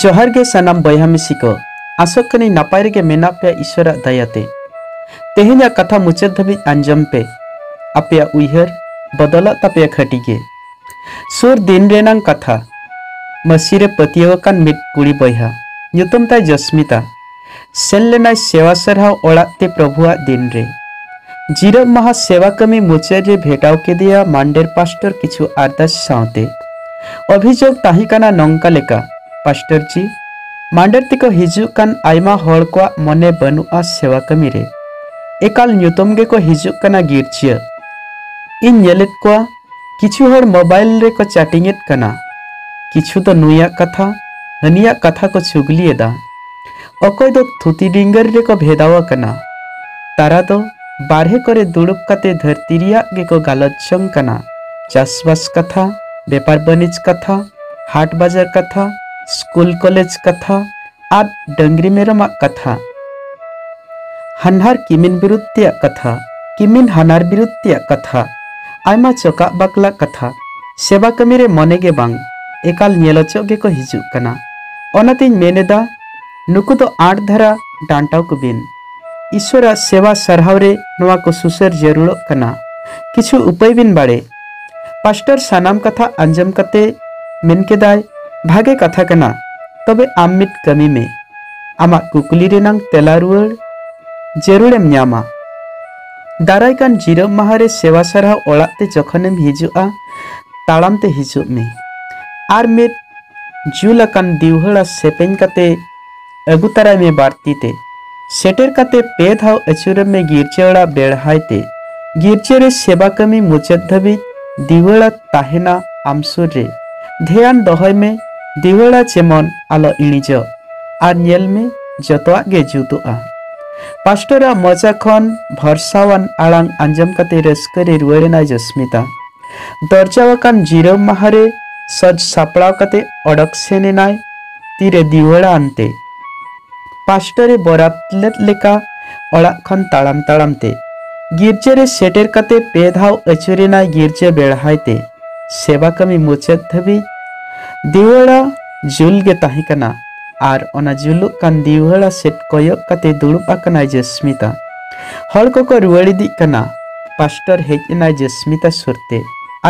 ᱡᱚᱦᱟᱨ ᱜᱮ ᱥᱟᱱᱟᱢ ᱵᱚᱭᱦᱟ ᱢᱤᱥᱤ ᱠᱚ ᱟᱥᱚᱜ ᱠᱟᱹᱱᱟᱹᱧ ᱱᱟᱯᱟᱭ ᱨᱮᱜᱮ ᱢᱮᱱᱟᱜ ᱯᱮᱭᱟ ᱤᱥᱚᱨᱟᱜ ᱫᱟᱭᱟᱛᱮ ᱛᱮᱦᱮᱧᱟᱜ ᱠᱟᱛᱷᱟ ᱢᱩᱪᱟᱹᱫ ᱫᱷᱟᱹᱵᱤᱡ ᱟᱸᱡᱚᱢ ᱯᱮ ᱟᱯᱮᱭᱟᱜ ᱩᱭᱦᱟᱹᱨ ᱵᱚᱫᱚᱞᱚᱜ ᱛᱟᱯᱮᱭᱟ ᱠᱷᱟᱹᱴᱤ ᱜᱮ ᱥᱩᱨ ᱫᱤᱱ ᱨᱮᱱᱟᱝ ᱠᱟᱛᱷᱟ ᱢᱟᱹᱥᱤ ᱨᱮ ᱯᱟᱹᱛᱭᱟᱹᱣ ᱟᱠᱟᱱ ᱢᱤᱫ ᱠᱩᱲᱤ ᱵᱚᱭᱦᱟ ᱧᱩᱛᱩᱢ ᱛᱟᱭ ᱡᱚᱥᱢᱤᱛᱟ ᱥᱮᱱ ᱞᱮᱱᱟᱭ ᱥᱮᱣᱟ ᱥᱟᱨᱦᱟᱣ ᱚᱲᱟᱜ ᱛᱮ ᱯᱨᱚᱵᱷᱩᱣᱟᱜ ᱫᱤᱱ ᱨᱮ ᱡᱤᱨᱟᱹᱵ ᱢᱟᱦᱟ ᱥᱮᱣᱟ ᱠᱟᱹᱢᱤ ᱢᱩᱪᱟᱹᱫ ᱨᱮ ᱵᱷᱮᱴᱟᱣ ᱠᱮᱫᱮᱭᱟ ᱢᱟᱱᱰᱮᱨ ᱯᱟᱥᱴᱚᱨ ᱠᱤᱪᱷᱩ ᱟᱨᱫᱟᱥ ᱥᱟᱶᱛᱮ ᱚᱵᱷᱤᱡᱳᱜᱽ ᱛᱟᱦᱮᱸ ᱠᱟᱱᱟ ᱱᱚᱝᱠᱟ ᱞᱮᱠᱟ ᱯᱟᱥᱴᱚᱨ ᱡᱤ ᱢᱟᱱᱰᱮᱨ ᱛᱮᱠᱚ ᱦᱤᱡᱩᱜ ᱠᱟᱱ ᱟᱭᱢᱟ ᱦᱚᱲ ᱠᱚᱣᱟᱜ ᱢᱚᱱᱮ ᱵᱟᱹᱱᱩᱜᱼᱟ ᱥᱮᱣᱟ ᱠᱟᱹᱢᱤ ᱨᱮ ᱮᱠᱟᱞ ᱧᱩᱛᱩᱢ ᱜᱮᱠᱚ ᱦᱤᱡᱩᱜ ᱠᱟᱱᱟ ᱜᱤᱨᱡᱟᱹ ᱤᱧ ᱧᱮᱞᱮᱫ ᱠᱚᱣᱟ ᱠᱤᱪᱷᱩ ᱦᱚᱲ ᱢᱳᱵᱟᱭᱤᱞ ᱨᱮᱠᱚ ᱪᱟᱴᱤᱝ ᱮᱫ ᱠᱟᱱᱟ ᱠᱤᱪᱷᱩ ᱫᱚ ᱱᱩᱭᱟᱜ ᱠᱟᱛᱷᱟ ᱦᱟᱹᱱᱤᱭᱟᱜ ᱠᱟᱛᱷᱟ ᱠᱚ ᱪᱩᱜᱽᱞᱤ ᱮᱫᱟ ᱚᱠᱚᱭ ᱫᱚ ᱛᱷᱩᱛᱤ ᱰᱤᱝᱜᱟᱹᱨ ᱨᱮᱠᱚ ᱵᱷᱮᱫᱟᱣ ᱟᱠᱟᱱᱟ ᱛᱟᱨᱟ ᱫᱚ ᱵᱟᱨᱦᱮ ᱠᱚᱨᱮ ᱫᱩᱲᱩᱵ ᱠᱟᱛᱮ ᱫᱷᱟᱹᱨᱛᱤ ᱨᱮᱭᱟᱜ ᱜᱮᱠᱚ ᱜᱟᱞᱚᱪ ᱡᱚᱝ ᱠᱟᱱᱟ ᱪᱟᱥᱵᱟᱥ ᱠᱟᱛᱷᱟ ᱵᱮᱯᱟᱨ ᱵᱟᱹᱱᱤᱡᱽ ᱠᱟᱛᱷᱟ ᱦᱟᱴ ᱵᱟᱡᱟᱨ ᱠᱟᱛᱷᱟ ᱥᱠᱩᱞ ᱠᱚᱞᱮᱡᱽ ᱠᱟᱛᱷᱟ ᱟᱨ ᱰᱟᱹᱝᱨᱤ ᱢᱮᱨᱚᱢᱟᱜ ᱠᱟᱛᱷᱟ ᱦᱟᱱᱦᱟᱨ ᱠᱤᱢᱤᱱ ᱵᱤᱨᱩᱫᱽ ᱛᱮᱭᱟᱜ ᱠᱟᱛᱷᱟ ᱠᱤᱢᱤᱱ ᱦᱟᱱᱟᱨ ᱵᱤᱨᱩᱫᱽ ᱛᱮᱭᱟᱜ ᱠᱟᱛᱷᱟ ᱟᱭᱢᱟ ᱪᱚᱠᱟᱜ ᱵᱟᱠᱞᱟ ᱠᱟᱛᱷᱟ ᱥᱮᱵᱟ ᱠᱟᱹᱢᱤ ᱨᱮ ᱢᱚᱱᱮ ᱜᱮ ᱵᱟᱝ ᱮᱠᱟᱞ ᱧᱮᱞ ᱚᱪᱚᱜ ᱜᱮᱠᱚ ᱦᱤᱡᱩᱜ ᱠᱟᱱᱟ ᱚᱱᱟᱛᱮᱧ ᱢᱮᱱ ᱮᱫᱟ ᱱᱩᱠᱩ ᱫᱚ ᱟᱸᱴ ᱫᱷᱟᱨᱟ ᱰᱟᱱᱴᱟᱣ ᱠᱚ ᱵᱤᱱ ᱤᱥᱣᱚᱨᱟᱜ ᱥᱮᱵᱟ ᱥᱟᱨᱦᱟᱣ ᱨᱮ ᱱᱚᱣᱟ ᱠᱚ ᱥᱩᱥᱟᱹᱨ ᱡᱟᱹᱨᱩᱲᱚᱜ ᱠᱟᱱᱟ ᱠᱤᱪᱷᱩ ᱩᱯᱟᱹᱭ ᱵᱤᱱ ᱵᱟᱲᱮ ᱯᱟᱥᱴᱟᱨ ᱥᱟᱱᱟᱢ ᱠᱟᱛᱷᱟ ᱟᱸᱡᱚᱢ ᱠᱟᱛᱮ ᱢᱮᱱ ᱠᱮᱫᱟᱭ, ᱵᱷᱟᱜᱮ ᱠᱟᱛᱷᱟ ᱠᱟᱱᱟ, ᱛᱚᱵᱮ ᱟᱢ ᱢᱤᱫ ᱠᱟᱹᱢᱤ ᱢᱮ᱾ ᱟᱢᱟᱜ ᱠᱩᱠᱞᱤ ᱨᱮᱱᱟᱝ ᱛᱮᱞᱟ ᱨᱩᱣᱟᱹᱲ ᱡᱟᱹᱨᱩᱲᱮᱢ ᱧᱟᱢᱟ᱾ ᱫᱟᱨᱟᱭ ᱠᱟᱱ ᱡᱤᱨᱟᱹᱵ ᱢᱟᱦᱟᱸ ᱨᱮ ᱥᱮᱣᱟ ᱥᱟᱨᱦᱟᱣ ᱚᱲᱟᱜ ᱛᱮ ᱡᱚᱠᱷᱚᱱᱮᱢ ᱦᱤᱡᱩᱜᱼᱟ, ᱛᱟᱲᱟᱢ ᱛᱮ ᱦᱤᱡᱩᱜ ᱢᱮ᱾ ᱟᱨ ᱢᱤᱫ ᱡᱩᱞ ᱟᱠᱟᱱ ᱫᱤᱣᱦᱟᱹᱲᱟ ᱥᱮᱯᱮᱧ ᱠᱟᱛᱮ ᱟᱹᱜᱩ ᱛᱟᱨᱟᱭ ᱢᱮ ᱵᱟᱨᱛᱤ ᱛᱮ ᱥᱮᱴᱮᱨ ᱠᱟᱛᱮ ᱯᱮ ᱫᱷᱟᱣ ᱟᱹᱪᱩᱨᱮᱢ ᱢᱮ ᱜᱤᱨᱡᱟᱹ ᱚᱲᱟᱜ ᱵᱮᱲᱦᱟᱭ ᱛᱮ ᱜᱤᱨᱡᱟᱹ ᱨᱮ ᱥᱮᱵᱟ ᱠᱟᱹᱢᱤ ᱢᱩᱪᱟᱹᱫ ᱫᱷᱟᱹᱵᱤᱡ ᱫᱤᱣᱟᱹᱲᱟ ᱛᱟᱦᱮᱱᱟ ᱟᱢ ᱥᱩᱨ ᱨᱮ ᱫᱷᱮᱭᱟᱱ ᱫᱚᱦᱚᱭ ᱢᱮ ᱫᱤᱣᱟᱹᱲᱟ ᱡᱮᱢᱚᱱ ᱟᱞᱚ ᱤᱬᱤᱡᱚᱜ ᱟᱨ ᱧᱮᱞ ᱢᱮ ᱡᱚᱛᱚᱣᱟᱜ ᱜᱮ ᱡᱩᱛᱩᱜᱼᱟ ᱯᱟᱥᱴᱚᱨᱟᱜ ᱢᱚᱪᱟ ᱠᱷᱚᱱ ᱵᱷᱚᱨᱥᱟᱣᱟᱱ ᱟᱲᱟᱝ ᱟᱸᱡᱚᱢ ᱠᱟᱛᱮ ᱨᱟᱹᱥᱠᱟᱹ ᱨᱮ ᱨᱩᱣᱟᱹᱲ ᱮᱱᱟᱭ ᱡᱚᱥᱢᱤᱛᱟ ᱫᱚᱨᱡᱟᱣ ᱟᱠᱟᱱ ᱡᱤᱨᱟᱹᱣ ᱢᱟᱦᱟ ᱨᱮ ᱥᱚᱡᱽ ᱥᱟᱯᱲᱟᱣ ᱠᱟᱛᱮ ᱚᱰᱚᱠ ᱥᱮᱱ ᱮᱱᱟᱭ ᱛᱤᱨᱮ ᱫᱤᱣᱟᱹᱲᱟ ᱟᱱᱛᱮ ᱯᱟᱥᱴᱚᱨ ᱮ ᱵᱚᱨᱟᱛ ᱞᱮᱫ ᱞᱮᱠᱟ ᱚᱲᱟᱜ ᱠᱷᱚᱱ ᱛᱟᱲᱟᱢ ᱛᱟᱲᱟᱢ ᱛᱮ ᱜᱤᱨᱡᱟᱹ ᱨᱮ ᱥᱮᱴᱮᱨ ᱠᱟᱛᱮ ᱯᱮ ᱫᱷᱟᱣ ᱟᱹᱪᱩᱨᱮᱱᱟᱭ ᱜᱤᱨᱡᱟᱹ ᱵᱮᱲᱦᱟᱭ ᱛᱮ ᱥᱮᱵᱟ ᱠᱟᱹᱢᱤ ᱢᱩᱪᱟᱹᱫ ᱫᱷᱟᱹᱵᱤᱡ ᱫᱤᱣᱟᱹᱲᱟ ᱡᱩᱞ ᱜᱮ ᱛᱟᱦᱮᱸ ᱠᱟᱱᱟ ᱟᱨ ᱚᱱᱟ ᱡᱩᱞᱩᱜ ᱠᱟᱱ ᱫᱤᱣᱟᱹᱲᱟ ᱥᱮᱫ ᱠᱚᱭᱚᱜ ᱠᱟᱛᱮ ᱫᱩᱲᱩᱵ ᱟᱠᱟᱱᱟᱭ ᱡᱚᱥᱢᱤᱛᱟ ᱦᱚᱲ ᱠᱚᱠᱚ ᱨᱩᱣᱟᱹᱲ ᱤᱫᱤᱜ ᱠᱟᱱᱟ ᱯᱟᱥᱴᱚᱨ ᱦᱮᱡ ᱮᱱᱟᱭ ᱡᱚᱥᱢᱤᱛᱟ ᱥᱩᱨᱛᱮ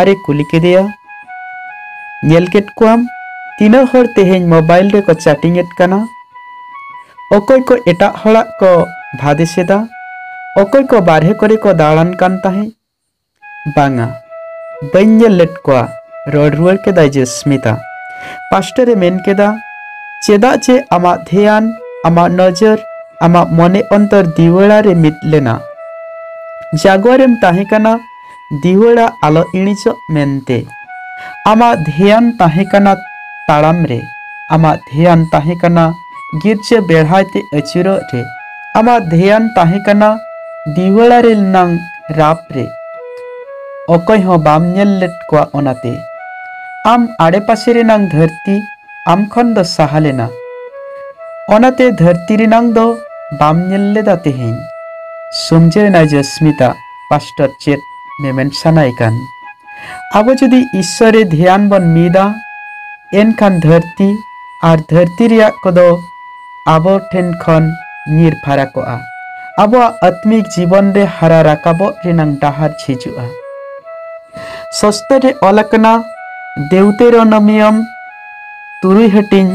ᱟᱨᱮ ᱠᱩᱞᱤ ᱠᱮᱫᱮᱭᱟ ᱧᱮᱞ ᱠᱮᱫ ᱠᱚᱣᱟᱢ ᱛᱤᱱᱟᱹᱜ ᱦᱚᱲ ᱛᱮᱦᱮᱧ ᱢᱳᱵᱟᱭᱤᱞ ᱨᱮᱠᱚ ᱪᱟᱴᱤᱝ ᱮᱫ ᱠᱟᱱᱟ ᱚᱠᱚᱭ ᱠᱚ ᱮᱴᱟᱜ ᱦᱚᱲᱟᱜ ᱠᱚ ᱵᱷᱟᱫᱮᱥ ᱮᱫᱟ ᱚᱠᱚᱭ ᱠᱚ ᱵᱟᱨᱦᱮ ᱠᱚᱨᱮ ᱠᱚ ᱫᱟᱬᱟᱱ ᱠᱟᱱ ᱛᱟᱦᱮᱸᱫ ᱵᱟᱝᱟ ᱵᱟᱹᱧ ᱧᱮᱞ ᱞᱮᱫ ᱠᱚᱣᱟ ᱨᱚᱲ ᱨᱩᱣᱟᱹᱲ ᱠᱮᱫᱟᱭ ᱡᱮᱥᱢᱤᱛᱟ ᱯᱟᱥᱴᱟᱨ ᱮ ᱢᱮᱱ ᱠᱮᱫᱟ ᱪᱮᱫᱟᱜ ᱪᱮ ᱟᱢᱟᱜ ᱫᱷᱮᱭᱟᱱ ᱟᱢᱟᱜ ᱱᱚᱡᱚᱨ ᱟᱢᱟᱜ ᱢᱚᱱᱮ ᱚᱱᱛᱚᱨ ᱫᱤᱣᱟᱹᱲᱟ ᱨᱮ ᱢᱤᱫ ᱞᱮᱱᱟ ᱡᱟᱜᱣᱟᱨᱮᱢ ᱛᱟᱦᱮᱸ ᱠᱟᱱᱟ ᱫᱤᱣᱟᱹᱲᱟ ᱟᱞᱚ ᱤᱬᱤᱡᱚᱜ ᱢᱮᱱᱛᱮ᱾ ᱟᱢᱟᱜ ᱫᱷᱮᱭᱟᱱ ᱛᱟᱦᱮᱸ ᱠᱟᱱᱟ ᱛᱟᱲᱟᱢ ᱨᱮ᱾ ᱟᱢᱟᱜ ᱫᱷᱮᱭᱟᱱ ᱛᱟᱦᱮᱸ ᱠᱟᱱᱟ ᱜᱤᱨᱡᱟᱹ ᱵᱮᱲᱦᱟᱭ ᱛᱮ ᱟᱹᱪᱩᱨᱚᱜ ᱨᱮ᱾ ᱟᱢᱟᱜ ᱫᱷᱮᱭᱟᱱ ᱛᱟᱦᱮᱸ ᱠᱟᱱᱟ ᱫᱤᱣᱟᱹᱲᱟ ᱨᱮᱞ ᱱᱟᱝ ᱨᱟᱯ ᱨᱮ᱾ ᱚᱠᱚᱭ ᱦᱚᱸ ᱵᱟᱢ ᱧᱮᱞ ᱞᱮᱫ ᱠᱚᱣᱟ ᱚᱱᱟᱛᱮ᱾ ᱟᱢ ᱟᱲᱮ ᱯᱟᱥᱮ ᱨᱮᱱᱟᱝ ᱫᱷᱟᱹᱨᱛᱤ ᱟᱢ ᱠᱷᱚᱱ ᱫᱚ ᱥᱟᱦᱟ ᱞᱮᱱᱟ᱾ ᱚᱱᱟᱛᱮ ᱫᱷᱟᱹᱨᱛᱤ ᱨᱮᱱᱟᱝ ᱫᱚ ᱵᱟᱢ ᱧᱮᱞ ᱞᱮᱫᱟ ᱛᱮᱦᱮᱧ᱾ ᱥᱚᱢᱡᱟᱹᱣ ᱮᱱᱟᱭ ᱡᱚᱥᱢᱤᱛᱟ᱾ ᱯᱟᱥᱴᱚᱨ ᱪᱮᱫ ᱢᱮᱢᱮᱱ ᱥᱟᱱᱟᱭ ᱠᱟᱱ ᱟᱵᱚ ᱡᱩᱫᱤ ᱤᱥᱥᱚᱨᱮ ᱫᱷᱮᱭᱟᱱ ᱵᱚᱱ ᱢᱤᱫᱟ ᱮᱱᱠᱷᱟᱱ ᱫᱷᱟᱹᱨᱛᱤ ᱟᱨ ᱫᱷᱟᱹᱨᱛᱤ ᱨᱮᱭᱟᱜ ᱠᱚᱫᱚ ᱟᱵᱚ ᱴᱷᱮᱱ ᱠᱷᱚᱱ ᱧᱤᱨ ᱯᱷᱟᱨᱟ ᱠᱚᱜᱼᱟ ᱟᱵᱚᱣᱟᱜ ᱟᱛᱢᱤᱠ ᱡᱤᱵᱚᱱ ᱨᱮ ᱦᱟᱨᱟ ᱨᱟᱠᱟᱵᱚᱜ ᱨᱮᱱᱟᱝ ᱰᱟᱦᱟᱨ ᱡᱷᱤᱡᱩᱜᱼᱟ ᱥᱚᱥᱛᱚ ᱨᱮ ᱚᱞ ᱟᱠᱟᱱᱟ ᱫᱮᱣᱛᱮᱨᱚᱱᱚᱢᱤᱭᱚᱢ ᱛᱩᱨᱩᱭ ᱦᱟᱹᱴᱤᱧ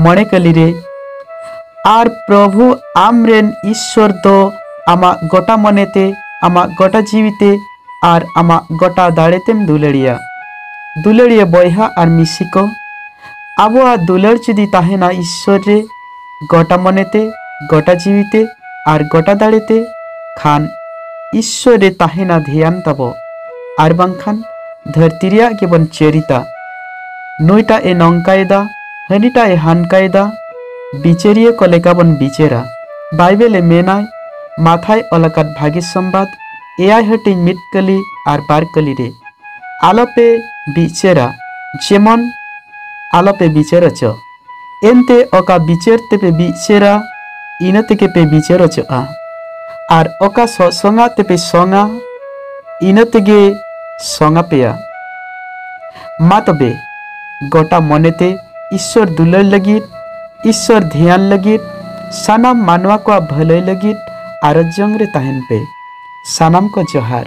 ᱢᱚᱬᱮ ᱠᱟᱹᱞᱤ ᱨᱮ ᱟᱨ ᱯᱨᱚᱵᱷᱩ ᱟᱢ ᱨᱮᱱ ᱤᱥᱥᱚᱨ ᱫᱚ ᱟᱢᱟᱜ ᱜᱚᱴᱟ ᱢᱚᱱᱮ ᱛᱮ ᱟᱢᱟᱜ ᱜᱚᱴᱟ ᱡᱤᱣᱤ ᱛᱮ ᱟᱨ ᱟᱢᱟᱜ ᱜᱚᱴᱟ ᱫᱟᱲᱮ ᱛᱮᱢ ᱫᱩᱞᱟᱹᱲᱤᱭᱟ ᱫᱩᱞᱟᱹᱲᱤᱭᱟᱹ ᱵᱚᱭᱦᱟ ᱟᱨ ᱢᱤᱥᱤ ᱠᱚ ᱟᱵᱚᱣᱟᱜ ᱫᱩᱞᱟᱹᱲ ᱡᱩᱫᱤ ᱛᱟᱦᱮᱱᱟ ᱤᱥᱥᱚᱨ ᱨᱮ ᱜᱚᱴᱟ ᱢᱚᱱᱮᱛᱮ, ᱜᱚᱴᱟ ᱡᱤᱣᱤᱛᱮ ᱟᱨ ᱜᱚᱴᱟ ᱫᱟᱲᱮᱛᱮ ᱠᱷᱟᱱ ᱤᱥᱥᱚᱨ ᱨᱮ ᱛᱟᱦᱮᱸᱱᱟ ᱫᱷᱮᱭᱟᱱ ᱛᱟᱵᱚ ᱟᱨ ᱵᱟᱝᱠᱷᱟᱱ ᱫᱷᱟᱹᱨᱛᱤ ᱨᱮᱭᱟᱜ ᱜᱮᱵᱚᱱ ᱪᱟᱹᱨᱤᱛᱟ᱾ ᱱᱩᱭᱴᱟᱜ ᱮ ᱱᱚᱝᱠᱟᱭᱮᱫᱟ, ᱦᱟᱹᱱᱤᱴᱟᱜ ᱮ ᱦᱟᱱᱠᱟᱭᱮᱫᱟ, ᱵᱤᱪᱟᱹᱨᱤᱭᱟᱹ ᱠᱚ ᱞᱮᱠᱟ ᱵᱚᱱ ᱵᱤᱪᱟᱹᱨᱟ᱾ ᱵᱟᱭᱵᱮᱞ ᱮ ᱢᱮᱱᱟᱭ, ᱢᱟᱛᱷᱟᱭ ᱚᱞ ᱟᱠᱟᱫ ᱵᱷᱟᱜᱮ ᱥᱚᱢᱵᱟᱫᱽ ᱮᱭᱟᱭ ᱦᱟᱹᱴᱤᱧ ᱢᱤᱫ ᱠᱟᱹᱞᱤ ᱟᱨ ᱵᱟᱨ ᱠᱟᱹᱞᱤ ᱨᱮ, ᱟᱞᱚᱯᱮ ᱵᱤᱪᱟᱹᱨᱟ, ᱡᱮᱢᱚᱱ ᱟᱞᱚᱯᱮ ᱵᱤᱪᱟᱹᱨ ᱚᱪᱚᱜ᱾ ᱮᱱᱛᱮ ᱚᱠᱟ ᱵᱤᱪᱟᱹᱨ ᱛᱮᱯᱮ ᱵᱤᱪᱟᱹᱨᱟ ᱤᱱᱟᱹ ᱛᱮᱜᱮ ᱯᱮ ᱵᱤᱪᱟᱹᱨ ᱚᱪᱚᱜᱼᱟ ᱟᱨ ᱚᱠᱟ ᱥᱚᱥᱚᱝᱟ ᱛᱮᱯᱮ ᱥᱚᱝᱟ ᱤᱱᱟᱹ ᱛᱮᱜᱮ ᱥᱚᱝᱟ ᱯᱮᱭᱟ ᱢᱟ ᱛᱚᱵᱮ ᱜᱚᱴᱟ ᱢᱚᱱᱮᱛᱮ ᱤᱥᱥᱚᱨ ᱫᱩᱞᱟᱹᱲ ᱞᱟᱹᱜᱤᱫ ᱤᱥᱥᱚᱨ ᱫᱷᱮᱭᱟᱱ ᱞᱟᱹᱜᱤᱫ ᱥᱟᱱᱟᱢ ᱢᱟᱱᱣᱟ ᱠᱚᱣᱟᱜ ᱵᱷᱟᱹᱞᱟᱹᱭ ᱞᱟᱹᱜᱤᱫ ᱟᱨᱚᱡ ᱡᱚᱝ ᱨᱮ ᱛᱟᱦᱮᱱ ᱯᱮ ᱥᱟᱱᱟᱢ ᱠᱚ ᱡᱚᱦᱟᱨ